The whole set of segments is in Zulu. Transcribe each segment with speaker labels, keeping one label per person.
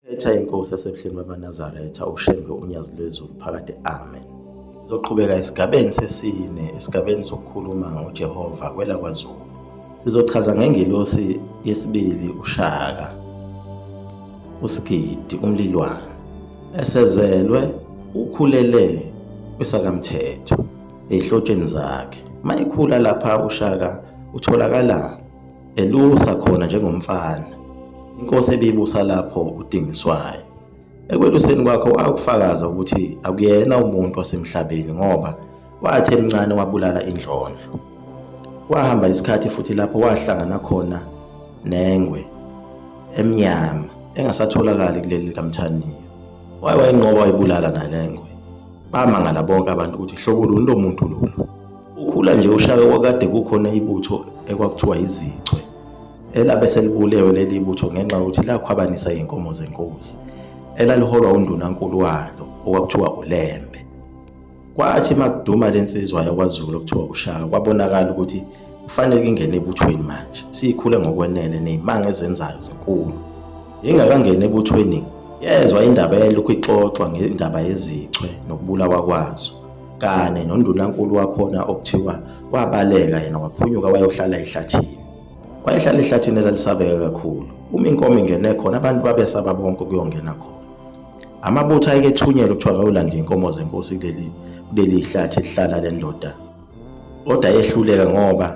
Speaker 1: Phetha inkosi yasebuhleni bamaNazaretha uShembe uNyazi lwezulu phakade amen. Sizoqhubeka esigabeni sesine esigabeni sokukhuluma ngoJehova kwela kwaZulu. Sizochaza ngengelosi yesibili uShaka uSigidi uMlilwane esezelwe ukhulele kwesakamthetho ezihlotsheni zakhe. Mayekhula lapha uShaka utholakala elusa khona njengomfana inkosi ebibusa lapho udingiswayo ekweluseni kwakho wakufakaza ukuthi akuyena umuntu wasemhlabeni ngoba wathi emncane wabulala indlondlo kwahamba isikhathi futhi lapho wahlangana khona nengwe emnyama engasatholakali kuleli likamthaniya waye wayinqoba wayibulala nalengwe bamangala bonke abantu ukuthi hlobo luni lo muntu lolu Ukhula nje ushaye kwakade kukhona ibutho ekwakuthiwa izichwe elabe selibulewe leli butho ngenxa yokuthi lakhwabanisa iy'nkomo zenkosi elaliholwa undunankulu walo okwakuthiwa uLembe. Kwathi uma kuduma le nsizwa yakwaZulu okuthiwa uShaka kwabonakala ukuthi kufanele ingene ebuthweni manje siyikhule ngokwenele ney'manga ezenzayo zinkulu. Ingakangeni ebuthweni yezwa indaba eyayilokhu ixoxwa ngendaba yezichwe nokubulawa kwazo. kane nondunankulu wakhona okuthiwa wabaleka yena waphunyuka wayohlala ehlathini wayehlala ehlathini elalisabeka kakhulu uma inkomo ingene khona abantu babesaba bonke ukuyongena khona amabutho ayekethunyelwe kuthiwa kawulande inkomo zenkosi kuleli kuleli hlathi lihlala le ndoda kodwa yehluleka ngoba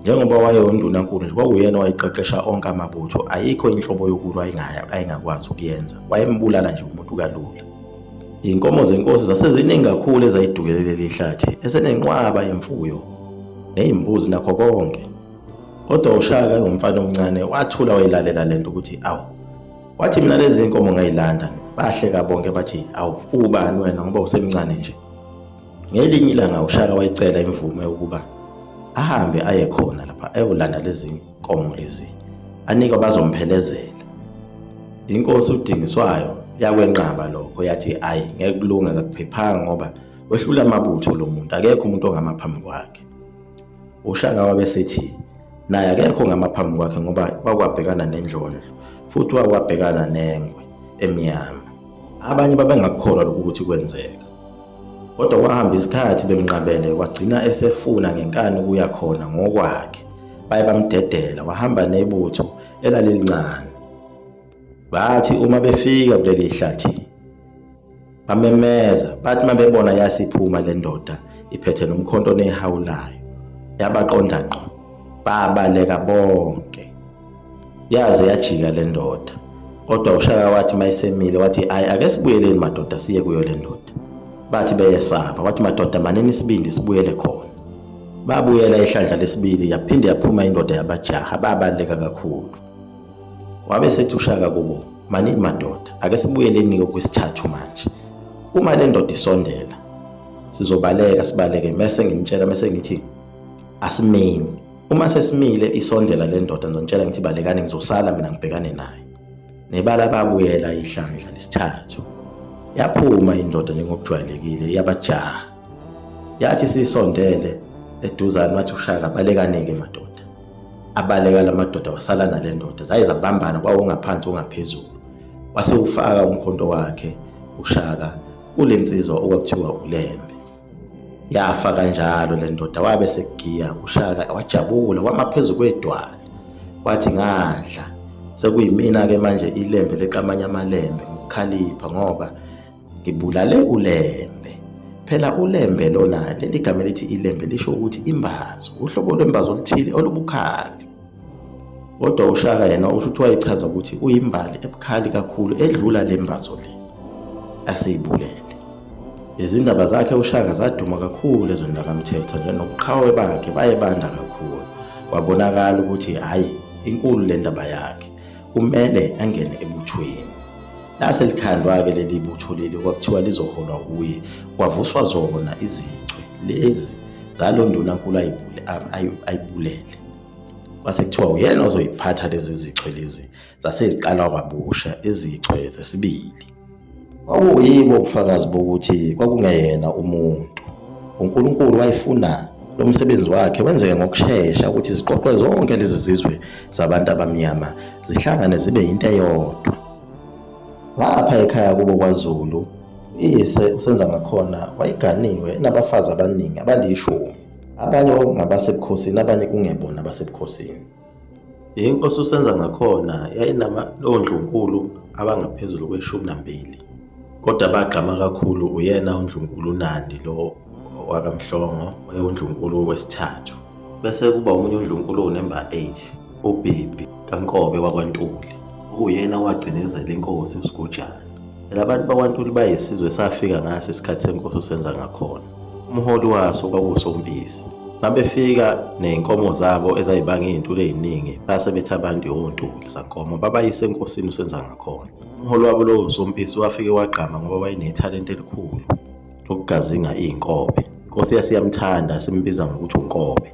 Speaker 1: njengoba wayewundunankulu nje kwakuyena owayeqeqesha onke amabutho ayikho inhlobo yokulwa ayingakwazi ukuyenza wayembulala nje umuntu kalula Inkomo zenkosi zaseziningi kakhulu ezayidukele leli hlathi esenenqwaba yemfuyo nezimbuzi nakho konke. Kodwa uShaka engumfana omncane wathula wayilalela lento ukuthi awu. Wathi mina lezi nkomo ngayilanda bahleka bonke bathi awu ubani wena ngoba usemncane nje. Ngelinye ilanga uShaka wayicela imvume ukuba ahambe aye khona lapha ayolanda lezi nkomo lezi anikwa bazomphelezela inkosi udingiswayo yakwenqaba lokho yathi ayi ngeke kulunga akuphephanga ngoba wehlula amabutho lo muntu akekho umuntu ongama phambi kwakhe ushaka wabe sethi naye akekho ongama phambi kwakhe ngoba wakwabhekana nendlondlo futhi wakwabhekana nengwe emnyama Abanye babengakukholwa lokhu ukuthi kwenzeka. Kodwa kwahamba isikhathi bemnqabele kwagcina esefuna ngenkani ukuya khona ngokwakhe. Baye bamdedela wahamba nebutho elalilincane. Bathi uma befika kuleli hlathi bamemeza bathi uma bebona yasiphuma le ndoda iphethe nomkhonto onehawulayo yabaqonda ngqo babaleka bonke. yaze yajika le ndoda kodwa ushaka wathi mayisemile wathi ayi ake sibuyeleni madoda siye kuyo le ndoda bathi beyesaba wathi madoda manini isibindi sibuyele khona babuyela ihlandla lesibili yaphinde yaphuma indoda yabajaha babaleka kakhulu wabe sethi ushaka kubo manini madoda ake sibuyeleni kokwesithathu manje uma le ndoda isondela sizobaleka sibaleke mese ngimtshela mese ngithi asimeni Uma sesimile isondela le ndoda ngizonitshela ngithi balekani ngizosala mina ngibhekane naye. Nebala babuyela ihlandla lesithathu. Yaphuma indoda njengokujwayelekile yabajaha. Yathi sisondele eduzane wathi ushaka balekani-ke madoda. Abaleka la madoda wasala nale ndoda zaye zabambana kwawongaphansi ongaphezulu. Wase ufaka umkhonto wakhe ushaka kule nsizwa okwakuthiwa ulembe. yafa kanjalo le ndoda wabe sekugiya ushaka wajabula wama phezu kwedwala wathi ngadla sekuyimina-ke manje ilembe leqamanye amalembe ngikukhalipha ngoba ngibulale ulembe phela ulembe lona leli gama elithi ilembe lisho ukuthi imbazo uhlobo lwembazo oluthile olubukhali Kodwa uShaka yena usho ukuthi wayechaza ukuthi uyimbali ebukhali kakhulu edlula le mbazo le aseyibulele. Izindaba zakhe uShaka zaduma kakhulu ezweni lakaMthethwa nje nobuqhawe bakhe baye banda kakhulu. Kwabonakala ukuthi hhayi inkulu le ndaba yakhe kumele angene ebuthweni. Lase likhandwa-ke leli butho leli kwakuthiwa lizoholwa wuye kwavuswa zona izichwe lezi zalo ndunankulu ayibulele. kwase kuthiwa uyena ozoyiphatha lezi zichwe lezi zase ziqala kwabusha izichwe zesibili kwakuyibo ubufakazi bokuthi kwakungeyena umuntu uNkulunkulu wayefuna lo msebenzi wakhe wenzeke ngokushesha ukuthi ziqoqe zonke lezi zizwe zabantu abamnyama zihlangane zibe yinto eyodwa lapha ekhaya kubo kwaZulu uyise usenza ngakhona wayeganiwe enabafazi abaningi abalishumi Abanye ngabasebukhosini, abanye kungebona abasebukhosini. Inkosi uSenza ngakhona yayinamaloondlunkulu abangaphezulu kweshumi nambili kodwa bagqama kakhulu uyena undlunkulu uNandi lo wakaMhlongo ewundlunkulu wesithathu bese kuba omunye undlunkulu unemba 8 ubhebhi kaNkobe wakwaNtuli okuyena owagcinezela inkosi uSigujana. Phela abantu bakwaNtuli bayisizwe esafika ngaso isikhathi senkosi uSenza ngakhona. Umholi waso kwakusompisi. Babefika ney'nkomo zabo ezayibanga iy'ntuli ey'ningi base bethi abantu yontuli zankomo babayise enkosini uSenza ngakhona. Umholi wabo lowo sompisi wafike wagqama ngoba wayenethalente elikhulu lokugazinga iy'nkobe. Inkosi yasiyamthanda simbiza ngokuthi uNkobe.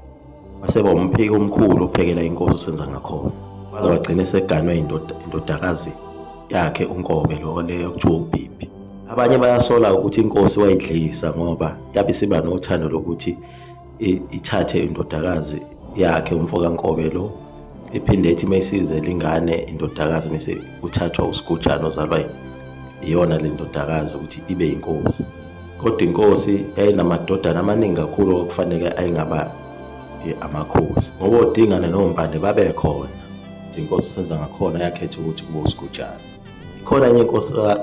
Speaker 1: Waseba umpheki omkhulu ophekela inkosi usenza ngakhona. Waze wagcina eseganwe indodakazi yakhe uNkobe lo le okuthiwa uBhibhi. Abanye bayasola ukuthi inkosi wayidlisa ngoba yabe siba nothando lokuthi ithathe indodakazi yakhe umfo kaNkobe lo iphinde ithi mayisize lingane indodakazi mase kuthathwa uSigujana ozalwa iyona le ndodakazi ukuthi ibe inkosi. Kodwa inkosi yayinamadodana amaningi kakhulu okufanele ayengaba eh, amakhosi ngoba odingane nombane babekhona inkosi usenza ngakhona yakhetha ukuthi kube usigujana ikhona enye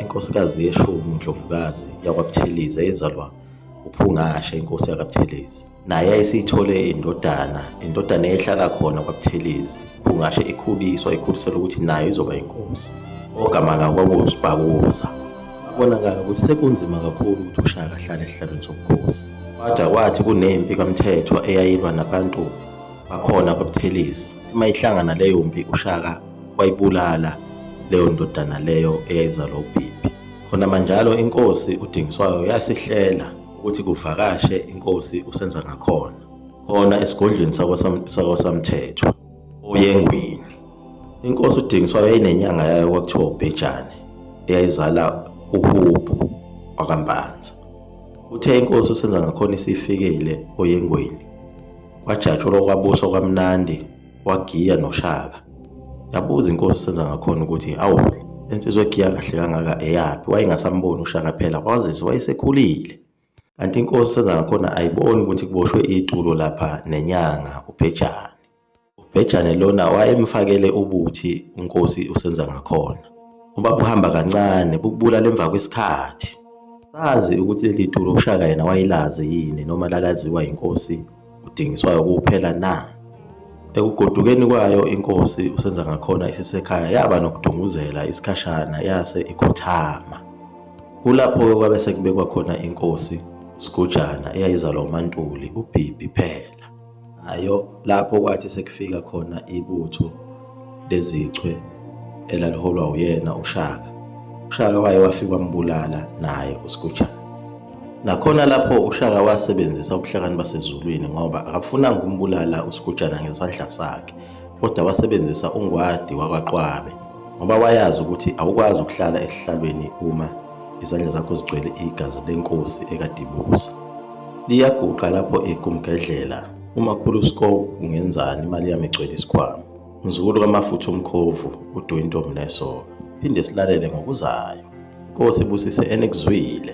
Speaker 1: inkosikazi yeshumi undlovukazi yakwabuthelezi eyezalwa uphungashe inkosi yakabuthelezi naye ayesiyithole indodana indodana eyehlala khona kwabuthelezi kungasho ikhuliswa ikhulisela ukuthi nayo izoba inkosi ogama lawo kwakungusibhakuza kubonakala ukuthi sekunzima kakhulu ukuthi ushaka ahlale esihlalweni sobukhosi kwada kwathi kunempi kamthethwa eyayilwa nabantu bakhona kwabuthelezi uma ihlangana leyo mpi ushaka wayibulala leyo ndodana leyo eyayizalwa ubhibhi khona manjalo inkosi udingiswayo yasihlela ukuthi kuvakashe inkosi usenza ngakhona khona esigodlweni sakwasamthethwa oyengwini inkosi udingiswa yayinenyanga yayo kwakuthiwa ubhejane eyayizala uhubhu wakambanza uthe inkosi usenza ngakhona isifikile oyengweni kwajatshulwa kwabuswa kwamnandi wagiya noshaka yabuza inkosi usenza ngakhona ukuthi awu insizwa egiya kahle kangaka eyaphi wayengasamboni ushaka phela kwazise wayesekhulile kanti inkosi usenza ngakhona ayiboni ukuthi kuboshwe itulo lapha nenyanga ubhejane ubhejane lona wayemfakele ubuthi unkosi usenza ngakhona uba buhamba kancane bukubulala emva kwesikhathi sazi ukuthi leli tulo ushaka yena wayelazi yini noma lalaziwa yinkosi udingiswayo kuphela na? Ekugodukeni kwayo inkosi uSenzangakhona isisekhaya yaba nokudunguzela isikhashana yase ikhothama. Kulapho-ke kwabe sekubekwa khona inkosi uSigujana eyayizalwa uMaNtuli, uBhibhi phela. Nayo lapho kwathi sekufika khona ibutho lezichwe elaliholwa uyena uShaka. UShaka waye wafika wambulala naye uSigujana. Nakhona lapho uShaka wasebenzisa ubuhlakani baseZulwini ngoba akafunanga ukumbulala uSigujana ngesandla sakhe kodwa wasebenzisa uNgwadi wakwaQwabe ngoba wayazi ukuthi awukwazi ukuhlala esihlalweni uma izandla zakho zigcwele igazi lenkosi ekadibusa. Liyaguqa lapho igumgedlela. Uma khulu scope ungenzani imali yami igcwele isikhwama. Mzukulu kamafutha umkhovu udu intombi nesoka. Phinde silalele ngokuzayo. Nkosi busise enikuzwile.